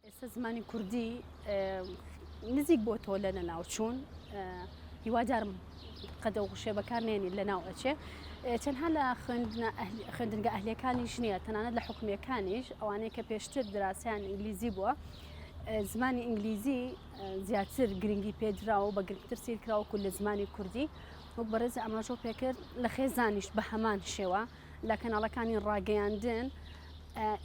ئێستا زمانی کوردی نزیک بۆ تۆ لە نەناوچوون هیوادارم قەدە و غشێ بەکارنێنی لە ناو ئەچێ چەندها لە خوێندنگە ئەهلەکانی ژنیە تەنانەت لە حکومیەکانیش ئەوانەیە کە پێشتر دراسیان ئینگلیزی بووە زمانی ئینگلیزی زیاتر گرنگی پێدرا و بە گرنگتر سیرکراوەکو لە زمانی کوردی وەک بەڕێز ئاماژۆ پێکرد لە خێزانیش بە هەمان شێوە لە کەناڵەکانی ڕاگەیاندن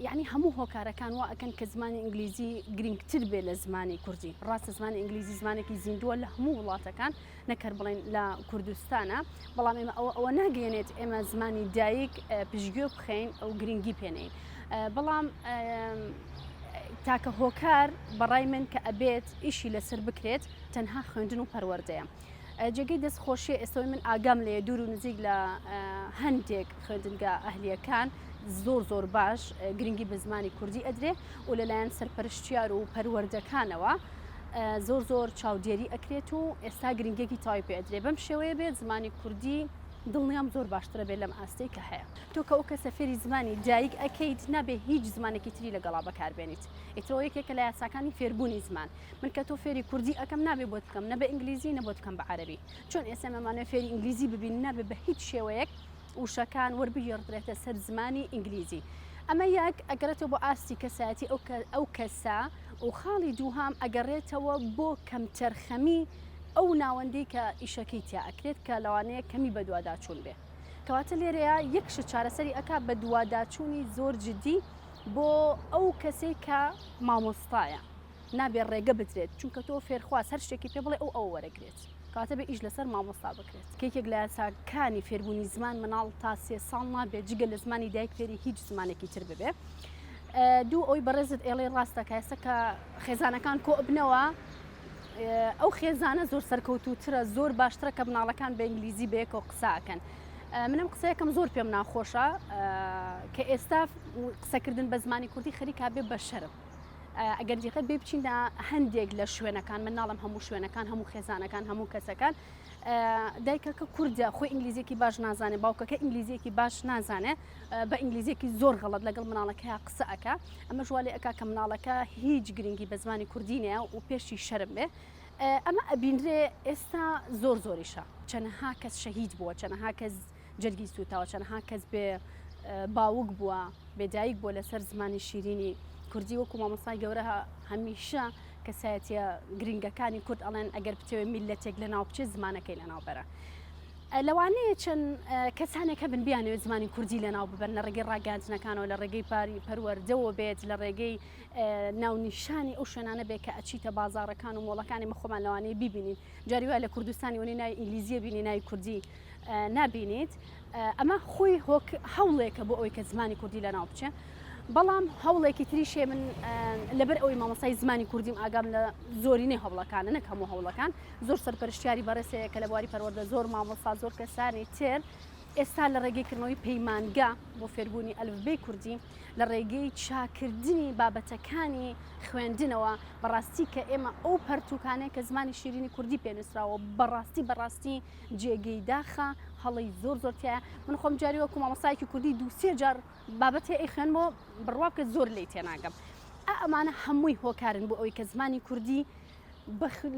یعنی هەموو هۆکارەکان وا ئەکەن کە زمانی ئینگلیزی گرنگتر بێ لە زمانی کوردی ڕاستە زمانی ئینگلیزی زمانێکی زیندووە لە هەموو وڵاتەکان نەکەر بڵێن لە کوردستانە بەڵام ئێمە ئەوە ئەوە ناگەێنێت ئێمە زمانی دایک پشتگوێ بخەین ئەو گرنگی پێنین بەڵام تاکە هۆکار بەڕای من کە ئەبێت ئیشی لەسەر بکرێت تەنها خوێندن و پەروەردەیە. جێگەی دەست خۆشیە ئێستەوەی من ئاگام لێ دوور و نزیک لە هەندێک خوێندنگە ئەهلیەکان زۆر زۆر باش گرنگی بە زمانی کوردی ئەدرێ و لەلایەن سەرپەرشتیار و پەروەردەکانەوە زۆر زۆر چاودێری ئەکرێت و ئێستا گرنگێکی تای پێدرێ بەم شێوەیە بێت زمانی کوردی دڵنیام زۆر باشترە بێت لەم ئاستەی کە هەیە تۆ کە ئەو کەسە فێری زمانی دایک ئەەکەیت نابێ هیچ زمانێکی تری لەگەڵا بەکاربێنیت ئیترۆ یەکێکە لە یاساکانی فێربوونی زمان من کە تۆ فێری کوردی ئەکەم نابێ بۆت بکەم نە بە ئینگلیزی نە بۆت بکەم بە عەرەبی چۆن ئێسێم ئەمانە فێری ئینگلیزی ببین نابێ بە هیچ شێوەیەک وشەکان وەربگێڕدرێتە سەر زمانی ئینگلیزی ئەمە یەک ئەگەرێتەوە بۆ ئاستی کەسایەتی ئەو ئەو کەسە و خاڵی دووهام ئەگەڕێتەوە بۆ کەمتەرخەمی ئەو ناوەندی کە ئیشەکەی تیا ئەکرێت کە لەوانەیە کەمی بەدوواداچوون بێ کەواتە لێرەیە یەکش چارەسەری ئەک بە دوواداچوونی زۆر جددی بۆ ئەو کەسێک کە مامۆستایە نابێ ڕێگە بدرێت چونکە تۆ فێرخواز هەر شتێکی پێ بڵێ ئەو ئەو وەرەگرێت کاتە بە ئیش لەسەر مامۆستا بکرێت کێکێک لە یاساکانی فێربوونی زمان مناڵ تا سێ ساڵ نابێت جگە لە زمانی دایک فێری هیچ زمانێکی تر ببێ دوو ئەوی بەڕێزت ئێڵێ ڕاستە کاسە کە خێزانەکان کۆبنەوە ئەو خێزانە زۆر سەرکەوتوترە زۆر باشترە کە مناڵەکان بە ئینگلیزی بەیەکەوە قساکەن منم قسەکەم زۆر پێم ناخۆشە کە ئێستا قسەکردن بە زمانی کوردی خەریکا بێ بە شەرم ئەگەر دیقەت بێ بچینە هەندێک لە شوێنەکان من ناڵم هەموو شوێنەکان هەموو خێزانەکان هەموو کەسەکان دایکەکە کوردە خۆی ئینگلیزیەکی باش نازانێت باوکەکە ئینگلیزیەکی باش نازانێت بە ئینگلیزیەکی زۆر غەڵت لەگەڵ مناڵەکە قسەکە ئەمە ژوالی ئەک کە مناڵەکە هیچ گرنگی بە زمانی کوردینەیە و پێشی شەرم بێ ئەمە ئەبینرێ ئێستا زۆر زۆریشە چەنەها کەس شەهید بووە چەنەها کەس جەرگی سووتاوە چەنەها کەس بێ باوک بووە بێدایک بۆ لەسەر زمانی شیرینی کوردی وەکو مامۆستای گەورە هەمیشە کەسایەتە گرنگەکانی کورد ئەڵێن ئەگەر بتەوێ میلەتێک لە ناو بچێت زمانەکەی لە ناوبەرە لەوانەیە چەند کەسانێکە بن بیانەوێت زمانی کوردی لە ناو ببەر لە ڕێگەی ڕاگەاندنەکانەوە لە ڕێگەی پاری پەروەەردەوە بێت لە ڕێگەی ناونیشانی ئەو شوێنانە بێت کە ئەچیتە بازارەکان و مۆڵەکانی مەخۆمانەوانی ببینین جاری وای لە کوردستانی وەنی نای ئینگلیزیە بینی نای کوردی نابینیت ئەمە خۆی هەوڵێکە بۆ ئەوەی کە زمانی کوردی لەناو بچێ بەڵام هەوڵێکی تریشێ من لەبەر ئەوی مامۆسای زمانی کوردیم ئاگام لە زۆرینەی هەوڵەکانە نەک هەموو هەوڵەکان زۆر سەرپەرشتیاری بەڕێسەیە کە لە بواری پەروەەردە زۆر مامۆسا زۆر کەسانی تێر ئێستا لە ڕێگەیکردنەوەی پەیمانگا بۆ فێربوونی ئەلفبەی کوردی لە ڕێگەی چاکردنی بابەتەکانی خوێندنەوە بەڕاستی کە ئێمە ئەو پەرتوکانێک کە زمانی شیرینی کوردی پێنووسراوە بەڕاستی بەڕاستی جێگەی داخە هەڵەی زۆر زۆر تایە من خۆم جاری وەکو مامۆستایکی کوردی دووسێ جار بابەت هەیە خوێن بۆ بڕوا بکە زۆر لی تێناگەم ئەمانە هەمووی هۆکارن بۆ ئەوی کە زمانی کوردی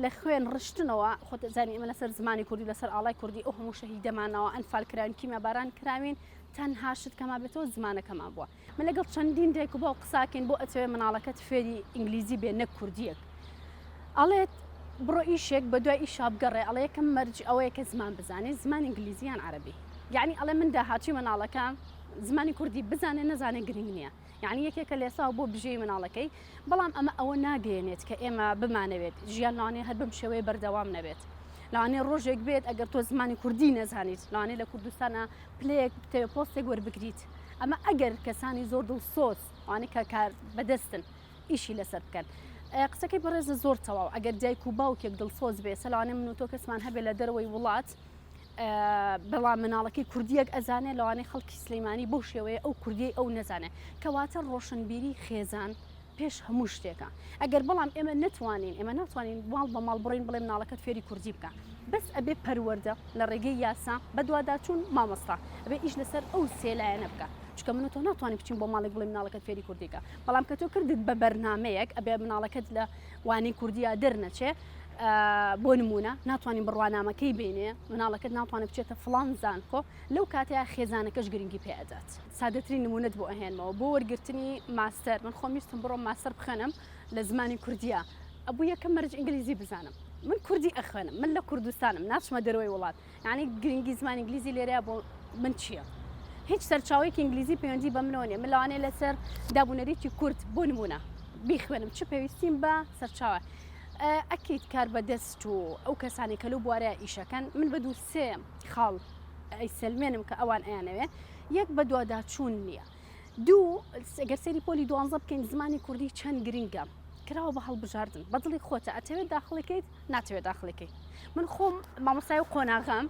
لە خوێن ڕشتنەوە خۆت زانانی ئمە لەسەر زمانی کوردی لەسەر ئاڵای کوردی ئەو هەموو شەهیدەمانەوە ئەنفال کراوین کیمە باران کراوین تەنها شت کەما بێتەوە زمانەکەمان بووە من لەگەڵ چەندین دایک و باوک قساکەین بۆ ئەتەوێ مناڵەکەت فێری ئینگلیزی بێ نەک کوردیەک ئەڵێت بڕۆ ئیشێک بە دوای ئیشا بگەڕێ ئەڵێ یەکەم مەرج ئەوەیە کە زمان بزانێت زمان ئینگلیزیان عربی یعنی ئەڵێ من داهاتوی مناڵەکە زمانی کوردی بزانێ نەزانێ گرنگ نییە یعنی یەکێکە لێساو بۆ بژێ مناڵەکەی بەڵام ئەمە ئەوە ناگەیەنێت کە ئێمە بمانەوێت ژیان لەوانەیە هەر بم شێوەیە بەردەوام نەبێت لەوانەیە ڕۆژێک بێت ئەگەر تۆ زمانی کوردی نەزانیت لەوانەیە لە کوردستانە پلەیەک پۆستێک وەربگریت ئەمە ئەگەر کەسانی زۆر دڵسۆز ئەوانەی کە کار بەدەستن ئیشی لەسەر بکەن قسەکەی بەڕێزە زۆر تەواو ئەگەر دایک و باوکێک دڵسۆز بێ سەلانێ من و تۆ کەسمان هەبێ لە دەرەوەی وڵات بەڵام مناڵەکەی کوردیەک ئەزانێ لەوانەیە خەڵکی سلەیمانی بەو شێوەیە ئەو کوردی ئەو نەزانێ کەواتە ڕۆشنبیری خێزان پێش هەموو شتێکە ئەگەر بەڵام ئێمە نەتوانین ئێمە ناتوانین ماڵ بە ماڵ بڕۆین بڵێ مناڵەکەت فێری کوردی بکە بەس ئەبێ پەروەەردە لە ڕێگەی یاسا بەدواداچوون مامۆستا ئەبێ ئیش لەسەر ئەو سێلایەنە بکە چکە من تۆ ناتوانین بچین بۆ ماڵێک بڵێ مناڵەکەت فێری کوردیکە بەڵام کە تۆ کردت بە بەرنمەیەک ئەبێ مناڵەکەت لە وانەی کوردیا دەرنەچێ بۆ نمونە ناتوانین بڕوانامەکەی بینێ مناڵەکەت ناتوانێت بچێتە فلان زانکۆ لەو کاتەیە خێزانەکەش گرنگی پێدات. سادەترین نمونەت بۆ ئەهێنمەوە بۆ وەرگرتنی ماستەر من خۆم ویستم بڕۆم ماستەر بخوێنم لە زمانی کوردیا ئەبوو یەکەم مەرج ئینگلیزی بزانم من کوردی ئەخوێنم من لە کوردستانم ناچمە دەرەوەی وڵات یعنی گرنگی زمانی ئینگلیزی لێرەیە بۆ من چییە؟ هیچ سەرچاوەیەکی ئینگلیزی پەیوەندی بە منەوە نیە من لەوانەیە لەسەر دابونەریتی کورد بۆ نمونە بیخوێنم چ پێویستیم بە سەرچاوە ئەکیت کار بە دەست و ئەو کەسانی کە لەو بوارەیە ئیشەکەن من بە دوو سێ خاڵ ئەیسەلمێنم کە ئەوان ئەیانەوێ یەک بەدواداچوون نییە دوو گەر سەیری پۆلی دوانزە بکەین زمانی کوردی چەند گرنگە کراوە بە هەڵبژاردن بەدڵی خۆتە ئەتەوێت داخڵەکەیت ناتەوێت داخڵەکەی من خۆم مامۆستای و قۆناغەم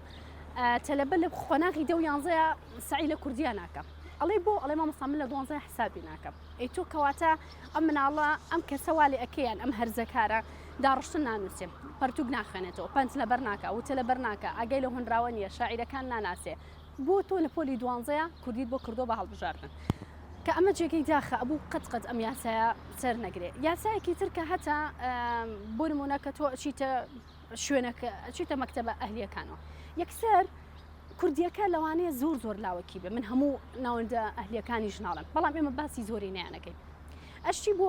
تەلەبە لە قۆناغی دە و یانزەیە سعی لە کوردیا ناکەم ئەڵێ بۆ ئەڵێ مامۆستا من لە دوانزە حسابی ناکەم ئەی تۆ کەواتە ئەم مناڵە ئەم کەسە وا لێ ئەکەیان ئەم هەرزەکارە داڕشتن نانووسێ پەرتوک ناخوێنێتەوە پەنج لەبەر ناکە وتە لەبەر ناکە ئاگای لە هۆنراوە نیە شاعیرەکان ناناسێ بۆ تۆ لە پۆلی دوانزەیە کوردیت بۆ کردو بە هەڵبژاردن کە ئەمە جێگەی داخە ئەبوو قەت قەت ئەم یاسایە سەر نەگرێ یاسایەکی تر کە هەتا بۆ نمونە کە تۆ ئەچیتە شوێنەکە ئەچیتە مەکتەبە ئەهلیەکانەوە یەکسەر کوردیەکە لەوانەیە زۆر زۆر لاوەکی بێ من هەموو ناوەندە ئەهلیەکانی ژناڵم بەڵام ئێمە باسی زۆری نیانەکەین ئەشتی بۆ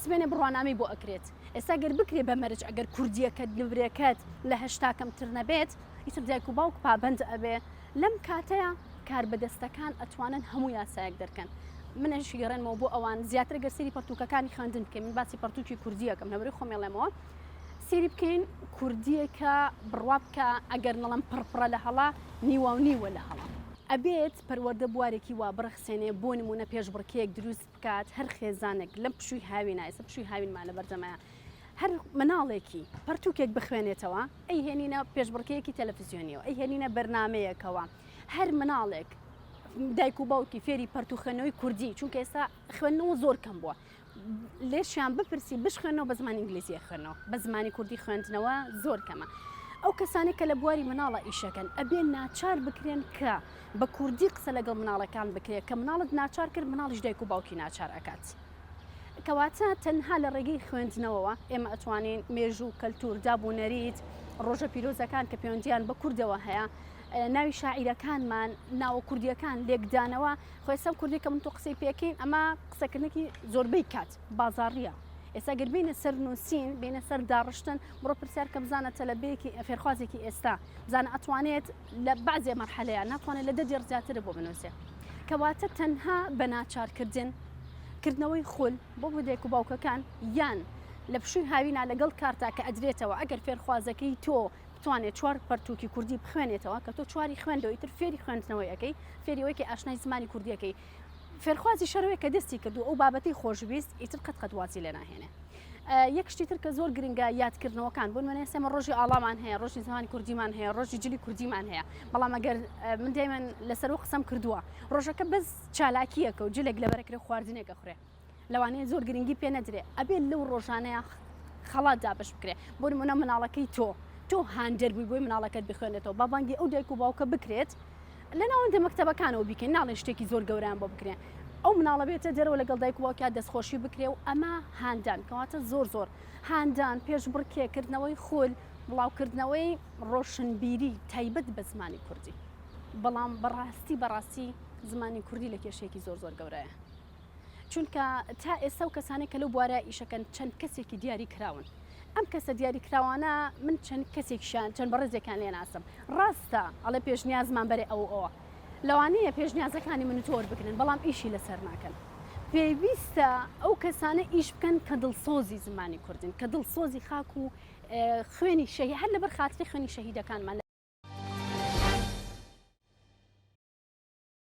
سبێنێ بڕوانامی بۆ ئەکرێت ئێستا گەر بکرێ بە مەرج ئەگەر کوردیەکەت نورێکەت لە هەشتا کەمتر نەبێت ئیتر دایک و باوک پابند ئەبێ لەم کاتەیە کار بەدەستەکان ئەتوانن هەموو یاسایەک دەرکەن منش گەڕێنمەوە بۆ ئەوان زیاتر گەرسری پرتوکەکانی خوێندن بکەین من باسی پرتوکی کوردیەکەم لەبری خۆمێڵێمەوە سێری بکەین کوردیەکە بڕوا بکە ئەگەر نەڵم پڕپڕە لە هەڵا نیواو نیوە لە هەڵا. ئەبێت پەروەردە بوارێکی وا بڕەخسێنێ بۆ نموونە پێشبڕکێیەک دروست بکات هەر خێزانێک لەم پشووی هاوینا ئێستا پشووی هاوینمان لەبەردەمە هەر مناڵێکی پەرتوکێک بخوێنێتەوە ئەی هێنینە پێشبڕکێکی تەلەفزیۆنیەوە ئەی هێنینە بەرنمەیەکەوە هەر مناڵێک دایک و باوکی فێری پەرتوخێنەوەی کوردی چونکە ئێستا خوێندنەوە زۆر کەم بووە لێشیان بپرسی بشخێنەوە بە زمانی ئینگلیزی خوێنەوە بە زمانی کوردی خوێندنەوە زۆر کەمە ئەو کەسانێک کە لە بواری مناڵە ئیشەکەن ئەبێ ناچار بکرێن کە بە کوردی قسە لەگەڵ مناڵەکان بکرێت کە مناڵت ناچار کرد مناڵیش دایک و باوکی ناچار ئەکات. کەواتە تەنها لە ڕێگەی خوێندنەوەوە ئێمە ئەتوانین مێژوو و کەلتور دابوونەریت ڕۆژە پیرۆزەکان کە پەیوەندیان بە کوردەوە هەیە ناوی شاعیرەکانمان ناوە کوردیەکان لێکدانەوە خۆێسەم کوردی کە من تۆ قسەی پێکەین ئەمە قسەکردنێکی زۆربەی کات بازاڕیە ئێستا گەر بینە سەر نووسین بینە سەر داڕشتن بڕۆ پرسیار کە بزانە تەلەبەیەکی فێرخوازێکی ئێستا بزانە ئەتوانێت لە بازێ مەرحەلەیە ناتوانێت لە دەدی ڕزیاتر بۆ بنووسێ کەواتە تەنها بە ناچارکردن کردنەوەی خول بۆ بۆدێک و باوکەکان یان لە پشووی هاوینا لەگەڵ کارتا کە ئەدرێتەوە ئەگەر فێرخوازەکەی تۆ بتوانێت چوار پەرتووکی کوردی بخوێنێتەوە کە تۆ چواری خوێندەوە ئیتر فێری خوێندنەوەی ئەکەی فێری ئەوەی کە ئاشنای زمانی کوردی ئەکەی فێرخوازی شەرەوەی کە دەستی کردو ئەو بابەتی خۆشویست ئیتر قەت قەت وازی لێ ناهێنێ یەک شتی تر کە زۆر گرنگە یادکردنەوەکان بۆ نوێنێ سێمە ڕۆژی ئاڵامان هەیە ڕۆژی زمانی کوردیمان هەیە ڕۆژی جلی کوردیمان هەیە بەڵام ئەگەر من دەیمەن لەسەر و قسەم کردووە ڕۆژەکە بەس چالاکیەکە و جلێک لە بەرەکرێ خواردنێکە خوێ لەوانەیە زۆر گرنگی پێ نەدرێ ئەبێ لەو ڕۆژانەیە خەڵات دابش بکرێ بۆ نمونە مناڵەکەی تۆ تۆ هاندەر بووی بۆی مناڵەکەت بخوێنێتەوە بابانگی ئەو دایک و باوکە بکرێت لە ناوەندە مەکتتەبەکانەوە بیکەین ناڵێ شتێکی زۆر گەوران بۆ بکرێن ئەو مناڵە بێتە دەرەوە لەگەڵ دایک واکە دەستخۆشی بکرێ و ئەمە هاندان کەواتە زۆر زۆر هاندان پێش بڕکێکردنەوەی خۆل بڵاوکردنەوەی ڕۆشنبیری تایبەت بە زمانی کوردی بەڵام بەڕاستی بەڕاستی زمانی کوردی لە کێشێکی زۆر زۆر گەورەیە چونکە تا ئێستا و کەسانێک کە لەو بوارە ئیشەکەن چەند کەسێکی دیاری کراون ئەم کەسە دیاری کراوانە من چەند کەسێکشان چەند بەڕێزێکان لێ ناسم ڕاستە ئەڵێ پێشنیازمان بەرێ ئەو ئەوە لەوانەیە پێشنیازەکانی من تۆر بگرن بەڵام ئیشی لەسەر ناکەن پێویستە ئەو کەسانە ئیش بکەن کە دڵسۆزی زمانی کوردن کە دڵسۆزی خاک و خوێنی شەهی هەر لەبەر خاتری خوێنی شەهیدەکانمان